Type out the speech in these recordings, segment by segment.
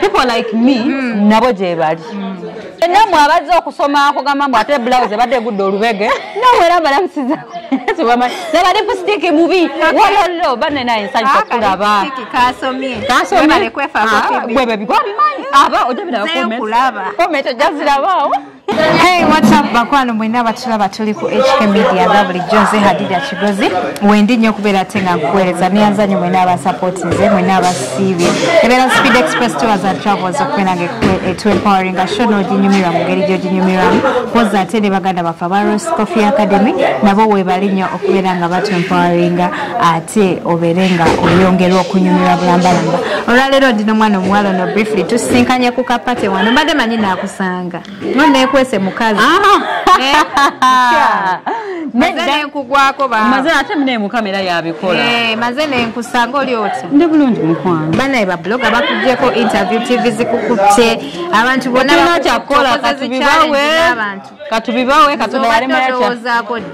people like me mm. nabo gyebali mm. namwe abazze okusoma akugamba mbu ate blouse ebadde egudde olubege nawe era balamusiza naba lipusitiki mubi walollo banne naye nsanyisa kulaba kasomyekwebebimanyi aba ojabirakomenti ojazirabaawo Hey, what's up bakwano mwena abatulaba tuli ku HK Media nga bulijjo nze Hadija Kigozi wendi nnyo okubeera ate nga nkuweereza neyanza nnyo mwena abasapoti nze mwena abasiibye ebeera Speed Express Tours and Travels okubeera nga etu empowering nga show n'oginyumirwa mu ngeri gy'oginyumirwamu poza ate ne baganda baffe aba Rose Coffee Academy nabo weebali nnyo okubeera nga batu empowering ate obeere nga oyongerwa okunyumirwa bulambalamba olwaleero ndi n'omwana omuwala ono briefly tusisinkanye ku kapate wano mbadde manyi naakusanga nga no nekwese mukazi maze ate mune mukama era yabikola eh, maze nenkusanga oli otya ndi bulungi mukwano banaye babuloga bakujeko interview tv zikukutte abantu bonakyakukola katubibawe katubibawe katonda yalimayakya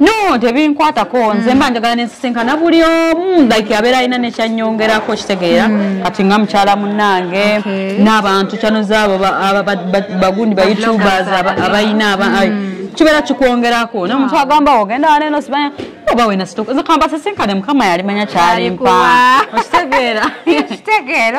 no tebinkwatako nze mba njagala nensisinkana buli omu like abeera alina nekyanyongerako kitegeera hmm. kati nga mukyala munange n'abantu kyanoza abo bagundi ba youtubers abalina hmm. kibeera kikwongerako naye omuntu agamba ogenda waneno sibanya oba wena situka nze kamba sisinkane mukama yalimanya kyalimpa okitegeera okitegeera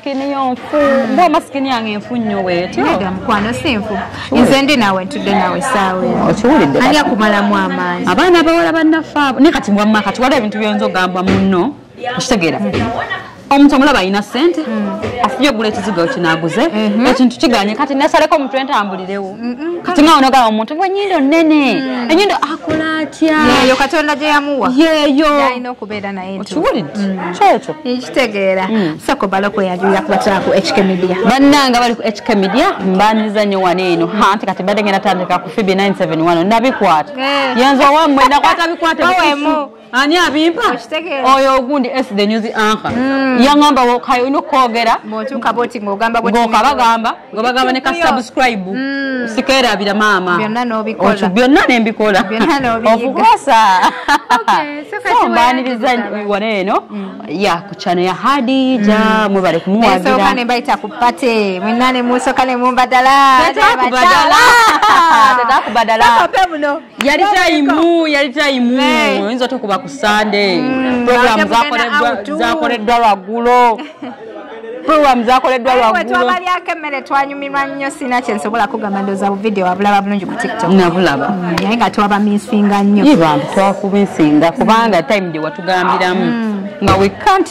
Skin yo nfu. Mm. Mbwa maskini yange nfu nyo weti. Nega mkwano si nfu. Nze ndi nawe ntude nawe sawe. Okiwulidde. Anya kumala mu amaanyi. Abaana bawala bannafa. Ne kati mbwa maka tuwala ebintu byonzo gamba munno. Okitegera. Mm. omuntu omulaba alina sente mm. afubye ogula ekizigo kinaguze mm-hmm. ekintu kiganye kati nasaleko omuntu entambulirewo kati nga onogaba omuntu gwe enyindo nene mm. enyindo akola atya yeyo katonda gyeyamuwa yeyo okiwulidde mm. kyekyo nkitegeera mm. sako bala kweyagirira kuba tula ku hk media bannanga bali ku hk media mbandiza nyo wano eno anti kati mbadde ngenda tandika ku fibi 971 nabikwata eh. yenza owamwe nakwata bikwata ani abimpa oyo ogundi s the news anka mm. yangamba kayo olina okwogera ngokabagamba nga bagamba ne ka subscribe mm. sikerabira maama byonna nembikola okukosa mbaniriza wano eno mm. ya ku kyano ya hadija mm. mwebale kumuwagira nembayita ku pate mwena nemusoka nemumbadala yali tayimu yali tayimu eh. oyinza otokuba ku sande mm. programu zakoleddwa lwaggulo program zakoleddwa lwagulotwabalyako emmere twanyumirwa nnyo sina kyensobola kugamba ndoza buvidiyo wabulaba bulungi ku tiktok nabulaba mm, naye nga twabamisinga nnyo ibantu twakumisinga kubanga time gye watugambiramu mm. nga we can't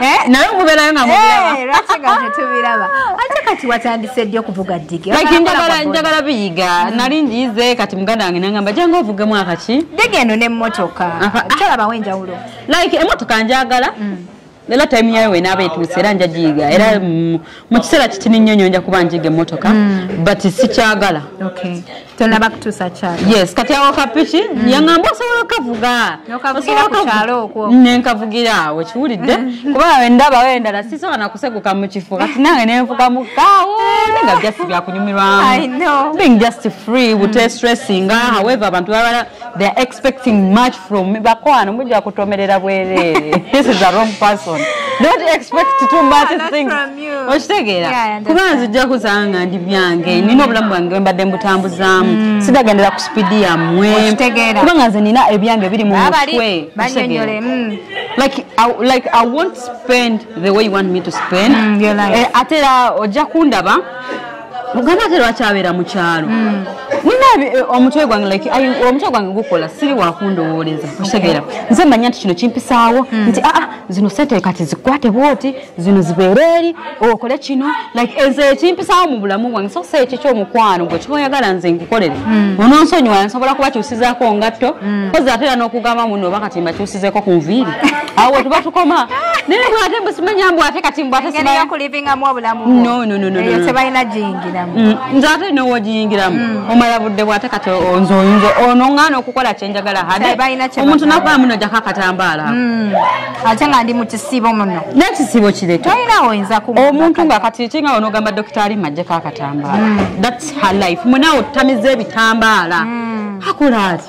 Eh, naye muberayo nga mubiraba eh, ate kati watandise ddi okuvuga ddigenjagala biyiga mm. nali njize kati muganda wange nangamba jange ovuge mwaka ki ddiga eno nemotoka tolabawo enjawulo like emotoka njagala mm. era time yayo wenaaba etuuse era nja giyiga era mm. mu kiseera kitini nnyo nyo nja kuba njiga emotoka but sikyagala tonaba kutuusa kyalo yes kati awo kapiki mm. yangamba osobola okavuga okavugira ku kyalo okwo nenkavugira awo kiwulidde mm. kuba awe ndaba we endala sisobola nakuseguka mu kifo kati nange nenvuga mu kaawo nga just byakunyumirwamu being just free bute mm. stressinga however abantu babala they are expecting much from bakwano mujja kutomerera bwerere this is a wrong person don't expect too much ah, things okitegeera kuba nzijja kusanga ndi byange mm. nina obulamu bwange mbadde mbutambuzaamu mm. sidagendera ku sipidi yammwe kuba nga nze nina ebyange biri mu mutwe mm. like I, like i won't spend the way you want me to spend mm, eh, ate era ojja kundaba muganda ate lwaki abeera mu kyalo hmm. munabi eh, omutwe gwange like omutwe gwange gukola siri wakundowooleza okitegeera nze manya nti kino kimpisaawo hmm. nti aa ah, ah, zino sente kati zikwate bwoti zino zibeere eri okole kino like enze ekimpisaawo mu bulamu bwange so si ekyo kyomukwano gwe kiba oyagala nze nkukolere hmm. ononsonyiwa nsobola kuba kyusizaako ngatto kozi ate era n'okugamba muno oba kati mbakyusizeeko ku nviiri awo wetuba tukoma naye bwate mbusimanya mbwate kati mbwate nze ate nowogiyingiramu mm. omala budde bwate kati nze oyinza onoŋŋaana okukola kyenjagala hade omuntu nakola muno jako akatambaala mm. ate nga ndi mukisibo muno nekisibo kireta omuntu nga kati kinga onogamba dokitaali majjeko akatambaala mm. thats her life munawe otamiza ebitambaala akola ati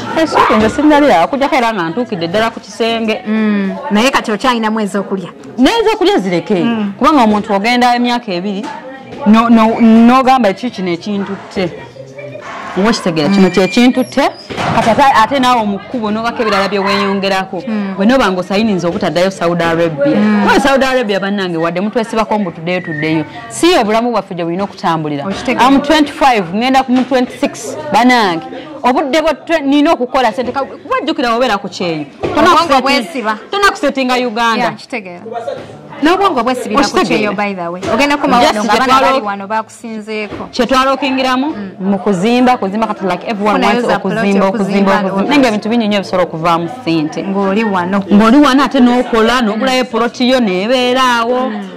esente nze sinalira okujjako era nga ntuukidde ddala ku kisenge mm. naye kati okyalinamu ezokulya nezokulya zireke mm. kubanga omuntu ogenda emyaka ebiri nogamba ekyo kino ekintutte oba okitegera kino mm. kyekintutte kati ate naawe omukkubo nobako ebirala byeweyongerako bwe noba nga osayiniza obutaddayo saudi arabia oyo saudi arabia bannange wadde mutwesibako mbu tuddeyo tuddeyo si obulamu bwaffe gye bulina okutambulira am 25 ngenda ku mu 26 bannange obudde bwe nina okukola sente kuba jjukira wabeera ku kyeyo tona kusetinga uganda nobwongo bwesibakyetwalokingiramu mm. mu kuzimba kuzimba kati like everyone wants okuzimba okuzimba okuzimba nga ebintu bingi nyo ebisobola okuvaamu sente ng'oli wano ate n'okola n'ogulayo poloti yo nebeeraawo mm.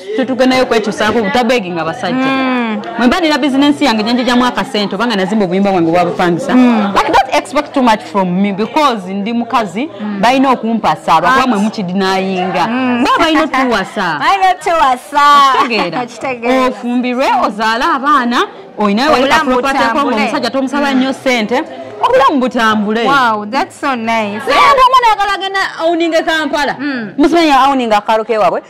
tetugendayo kwekyusaako butabeginga nga basajja hmm. mwemba nina bizinensi yange gyenjejamu akasente obanga nazimba obuyumba bwange bwabupangisa hmm. but don't expect too much from me because ndi mukazi hmm. balina okumpasa lwakuba mwe mukidinayinga ba balina otuwasa ofumbirwe ozaale abaana olinayo wekaomusajja tomusaba nnyo sente obulamu butambule omwana yagala agenda auninga kampala musimanya auninga akalo kewabwe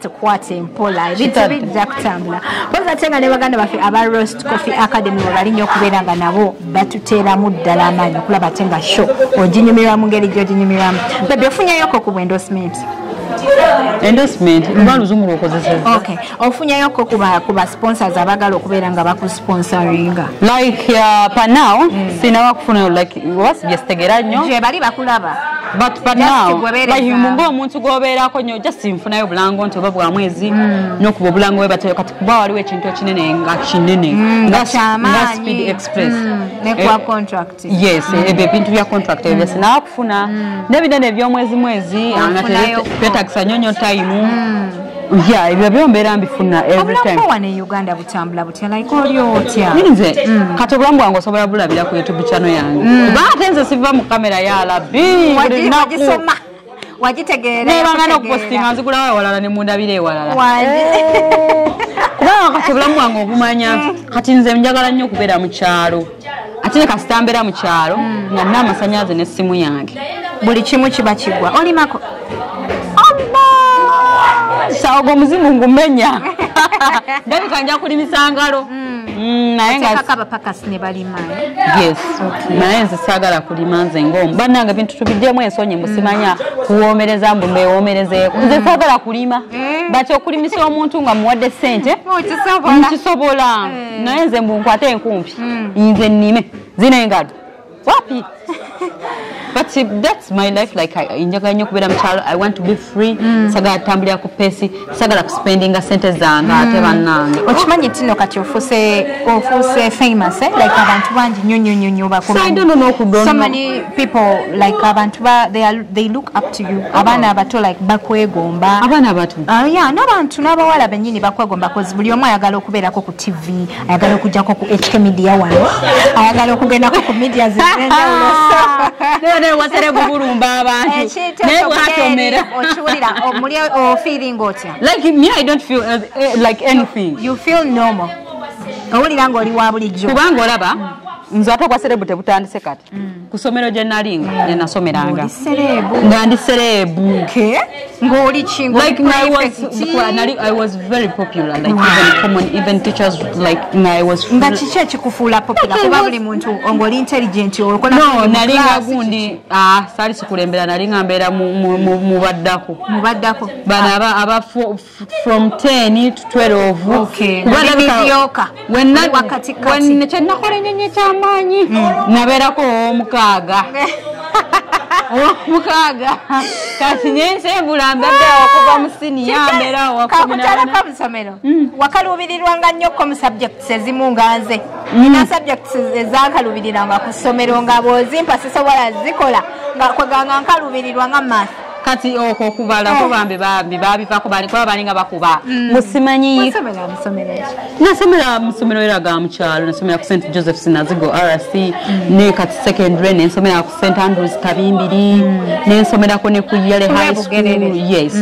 tukwate mpola ebintu bijja kutambula mpozi ate nga ne baganda baffe aba rost coffee academy webali nnyo okubeera nga nabo batuteeramu ddala amaanyi okulaba ate nga sho oginyumirwa mu ngeri gyoginyumirwamu bebe ofunyayoko ku bwendosimenti endorsement luba luzungu lwokozeseza okay ofunyayo ko kuba kuba sponsors abagala okubeera nga bakusponsoringa like uh, pa now mm. sinawa kufuna like was just tegera nyo je bali bakulaba but but now like mungu omuntu goberako nyo just nfunayo bulango nti oba bwa mwezi mm. no kubo bulango we batoyo kati kuba waliwo ekintu kinene nga kinene mm, nga chama nga speed express mm, ne kwa eh, contract yes mm. ebe eh, bintu bya contract mm. ebya sina kufuna mm. ne binene byo mwezi mwezi anga tete takisa nyonyo time mm. yeah ebyo byo mbera mbifuna every time obulamu wa ne uganda tambula butya like oli otya nze mm. kati obulamu bwange osobola bulabira ku youtube channel yange mm. kuba ate nze siva mu kamera ya labbi wagisoma wagitegeera nebangana okupostinga nzigulawo ewalala ne mundabira ewalala eh. kubanga kati obulamu bwange obumanya mm. kati nze njagala nnyo okubeera mu kyalo ate ne kasita mbeera mu kyalo mm. nga nina amasanyaze n'essimu yange buli kimu kiba kigwa olimako saogo omuzimu ngumenya ndabika nja kulimisa ngalo mm. mm, naye eh? nze saagala kulima nze ngaomu bannange bintu tubiddemu ensonyi mbusimanya kuwoomereza mbu mbewomerezeeko nze saagala kulima eh. but okulimisa omuntu nga muwadde ssente nkisobola oh, eh. eh. naye nze mbu nkwate enkumpi hmm. nze nnime zina engalo wapi but that's my life like njagala nnyo okubeera mukyalo i want to be free mm. sagala tambulira ku pesi sagala kuspendinga sente zange ate mm. bannange okimanyi tino kati ofuse ofuse famous eh? like abantu bangi nnyo nnyo nnyo nnyo bakumanyi so many people like abantu ba they are they look up to you abaana abato like bakwegomba abaana abato uh, yeah n'abantu n'abawala bennyini bakwegomba kozi buli omu ayagala okubeerako ku tv ayagala okujjako ku hk media wano ayagala okugendako ku media zewasere gugulumba abantu eh, naye bwatomera okiwulira omuli ofeeling otya like me i don't feel uh, uh, like anything you feel normal owulira ng'oli wa bulijjo kubanga olaba mm. nze ate obwaserebu tebutandise kati mm. ku ssomero gye nalinga gye nasomeranga nga ndi sereebu nga kiki ekikufuula popula kuba buli muntu ngoli intelligent okonalinga gundi ah, saali sikulembera nalinga mbeera mu baddako bano aba from 10 to 12 okay. kyenakola enyonyi ekyamaanyi hmm. nabeerako omukaaga omukaaga kati nyensengula mbadde okuva mu siniya mbeera wakutalaka musomero hmm. wakaluubirirwanga nnyo ko mu subjects ezimu nga nze hmm. nina subjects ezankaluubiriranga ku ssomero nga bwozimpa sisobola zikola nga kweganga nkaluubirirwa nga math kati okwo kubala oh. bambi bambi babivako bali kuba balinga bakuba mm. musimanyi nasomera musomero era ga mukyalo nasomera ku st joseph sinazigo rc mm. ne kati secondary nensomera ku st andrews kabimbiri mm. nensomerako ne ku yale high school yes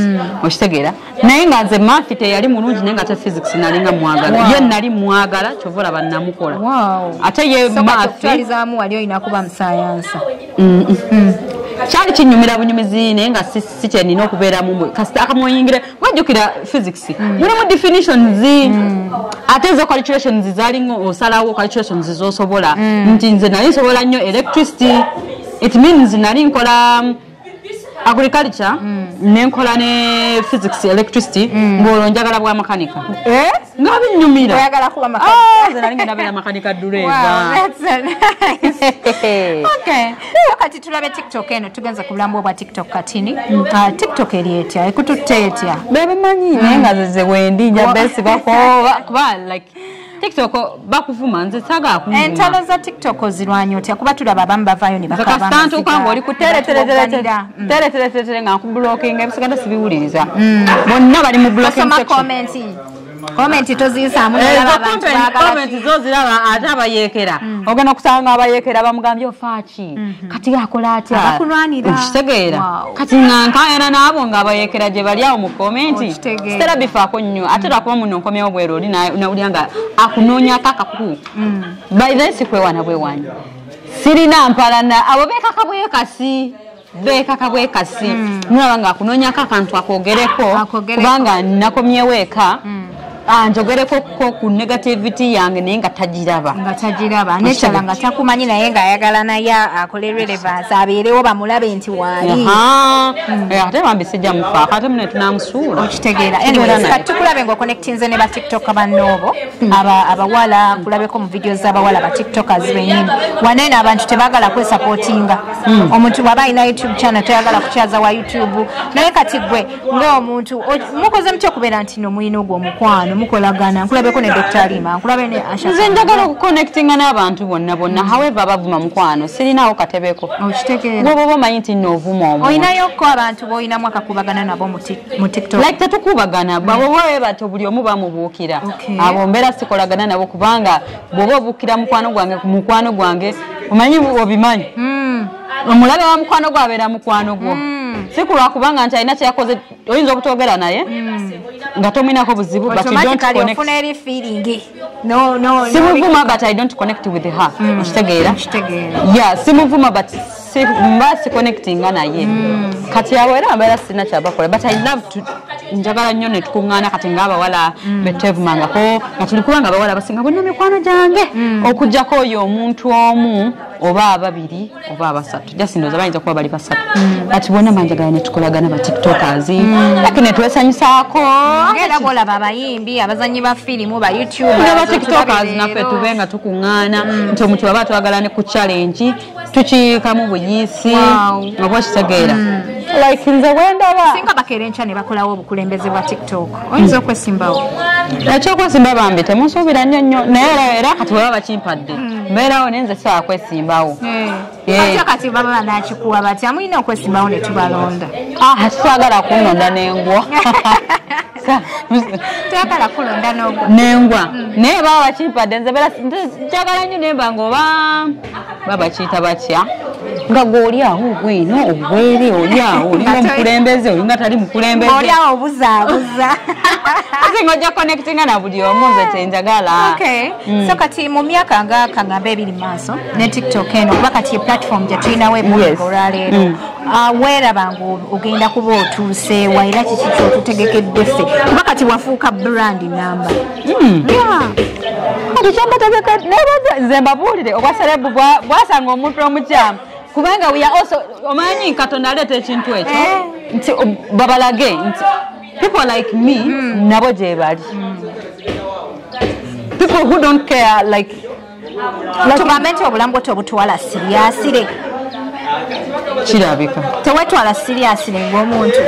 okitegeera naye nga nze mafi teyali mulungi naye nga te physics nalinga mwagala ye nali mwagala kyova olaba namukola ate ye mafializamu wali olina kuba musayansa kyali kinyumira bunyumizi naye nga si kyenina okubeeramu kasita akamuyingire wajjukira physics mm. mulimu definitions mm. ate ezo calculations zalinga osalawo calculations zosobola mm. nti nze nali nsobola nnyo electricity it means nali nkola agriculture mm. nenkola ne physics electricity mm. ngolwo njagala bwa makanika eh? nga binyumiraagala kuba makanikanalingenabeera ah, makanika dureeva kati tulabe tiktok eno tugenza ku bulamu obwa tiktok katini mm. ah, tiktok eri etya ekututte etya bebimanyi naye nga zeze wendi nja besibako kuba like TikTok bakuvuma nze saga kuvuma. Entalo za TikTok ozirwanyo tya kuba tulaba abamu bavayo ne bakaba. Kaka stanto kwangu oli kutere tere tere tere mm. tere tere tere tere nga ku blocking ebisiganda sibiwuliriza. Mm. Bonna bali mu blocking section. Soma comment. Comment tozisa mu laba. Eh, comment zo ziraba ate abayekera. Mm. Ogana kusanga abayekera bamugambye ofaaki. Mhm. kati akola atya okitegeera kati nga nkaayana n'abo nga abayekera gye bali awo mu komenti sitera bifaako nnyo ate lwakuba muno nkomyewo bwero oli nawulira nga akunoonyako akaku mm. by then sikwewana bwewanyi sirina mpalana abo beekaka bwekasi bekaka bwekasi mm. mulaba nga akunonyako akantu akogereko kubanga nakomyewo eka mm. ah, njogereko ko ku negativity yange naye nga tagiraba nga tagiraba nekyala nga takumanyi naye nga ayagala naye akole relevance abeerewo bamulabe nti waali mm. eh, ate bambi sijja mufaako ate mune tunamusuula okitegeera tukulabe nga oconnectinze ne batiktok bannoobo abawala kulabeko mu vidiyo z'abawala batiktokers benyini waneeno abantu tebagala kwesapootinga Mm. omuntu bwaba alina youtube channel toyagala kukyaza wa youtube naye kati gwe ngaomuntu mukoze mutya okubeera nti no mulina ogwo omukwano mukolagana nkulabeko ne dr lima nkulabe ne ashanze njagala okuconnectinga n'abantu bonna bonna mm. however abavuma mukwano sirinaawo katebeko okitegeera woba oba omanyi nti noovuma omu olinayoko abantu boolinamu akakubagana nabo mu tiktok like tetukubagana mm. bwabo bwebati obuli omu bamubuukira abo mbeera sikolagana nabo kubanga bwoba obukira mukwano gwange ku mukwano gwange omanyi obimanyi hmm. omulabe wa mukwano gwo abeera mukwano gwo hmm. si kulwa kubanga nti alina kyeyakoze oyinza obutogera naye hmm. nga tomuinako buzibu simuvuma but i don't connect with her okitegeera ya simuvuma but mba si connectinga naye mm. kati abo era mbeera sirina kyabakola but i love to njagala nnyo netukuŋŋaana kati ngaabawala mm. betwevumangako nga tuli kubanga abawala basinga bonna mikwano gyange mm. okujjako oyo omuntu omu oba ababiri oba abasatu jasindoza bayinza kuba bali basatu kati bona manjagala netukolagana batiktokers laki netwesanyusaako era bolaba abayimbi abazanyi ba firimu ba youtube batiktokers naffe tube nga tukuŋŋaana nti omuntu baba twagala ne ku challenge tukiyikamu buyiisi oba okitegeera mm. like nze wendaba singa bakeera enkya ne bakolawo obukulembeze bwa tiktok oyinza mm. okwesimbawo ekyokwesimba bambi temusuubira nnyo nnyo naye era kati weba bakimpadde mm. mbeerawo naye nze sisobola kwesimbawo eh. eh. atya kati baba banakikuwa batya mulina okwesimbawo ne tubalonda ah, twagala kunonda nengwa twagala kulonda nengwa naye baba bakimpadde nze njagala nnyo nemba ngaoba babakiyita batya nga gweoli awo ogwino ogwere oli awo olinga omukulembeze olinga tali mukulembezeoli awo obuzaabuza ate nga ojja connectinga na buli omu nze kyenjagala mm. so kati mu myaka nga kangamba ebiri mu maaso ne tiktok eno kuba kati ye platform gye tulinawo ebuliko olwaleero mm. ah, weeraba nga ogenda kuba otuuseewa era kiki kyotutegekedde ffe kuba kati wafuuka brand namba hmm. kati kyembategeka nebaza nze mbabuulire obwa serebu bwasanga omuntu omukyamu kubanga we are also omanyi katonda aleeta ekintu ekyo eh. nti babalage nti people like me hmm. nabo gyebali hmm. people who don't care like tugambe nti obulamu bwo tobutwala siriyasire kirabika tewetwala siriyasire ngaomuntu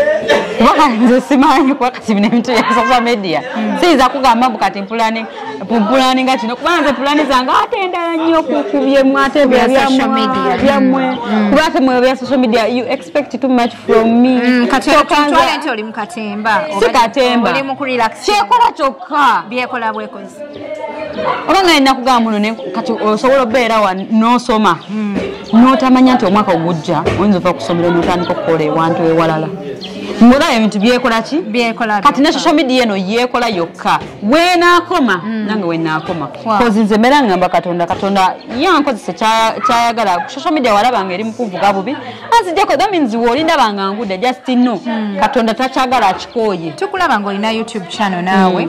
kubanga nze simanyi kuba kati bino ebintu bya social media hmm. siyinza kugamba mbu kati mpulani mpulani nga kino kubanga nze pulani zange ate endala nnyo kubyemu ate byammwe hmm. kuba ate mwe bya social media you expect too much from me hmm, katitwale nti oli mukatemba si katemba kyekola kyokka byekola bwekozi oba nga yena kugamba muno ne kati osobola obeera wa nosoma hmm. notamanya nti omwaka ogujja oyinza ova kusomero notandika okukola ewantu ewalala ngaolaba ebintu byekola ki kati ne social media eno yekola yokka wenakoma hmm. nange wenakoma kozi nze mbeera ngamba katonda katonda yankozese kyayagala ku social media walaba nga eri mukuvuga bubi anzijako that means wolindaba nga nguda just no hmm. katonda takyagala akikooye tukulaba nga olina youtube channel naawe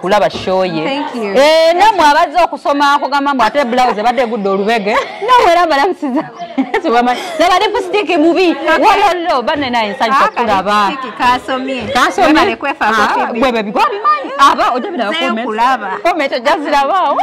kulaba shoye eh, namwe abazze okusoma akugamba mbu ate blouse ebadde egudde olubege namwe era balamusiza naba lipusitiki mubi wololo bane naye nsanyusa ah, kulaba kasomye ah, gwebebigwabimanyi aba ojabirakomenti ojazirabaawo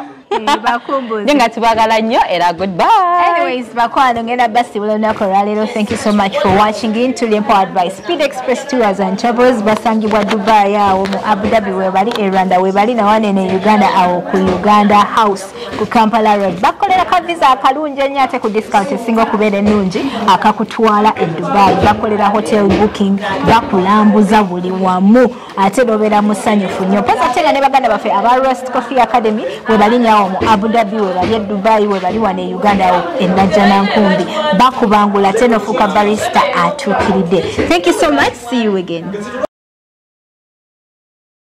naye nga tubagala nnyo era goodbyebakwano ngenda basibula olunaku olwaleero thank you so much for watching in tuli empo advice speed express tours and travels basangibwa dubai awo mu abudhabi webali e rwanda webali nawanene uganda awo ku uganda house ku kampala road bakolera ka visa akalungi ennyo ate ku discount esinga okubeera ennungi akakutwala e dubai bakolera hotel booking bakulambuza buli wamu ate nobeera musanyufu nnyo mpozi ate nga ne baganda baffe aba rust coffee academy webali nyawo mu abu dhabi webali e dubai webali wano e uganda awo enajjanankumbi bakubangula ate nofuuka barista atuukiridde thank you so much see you again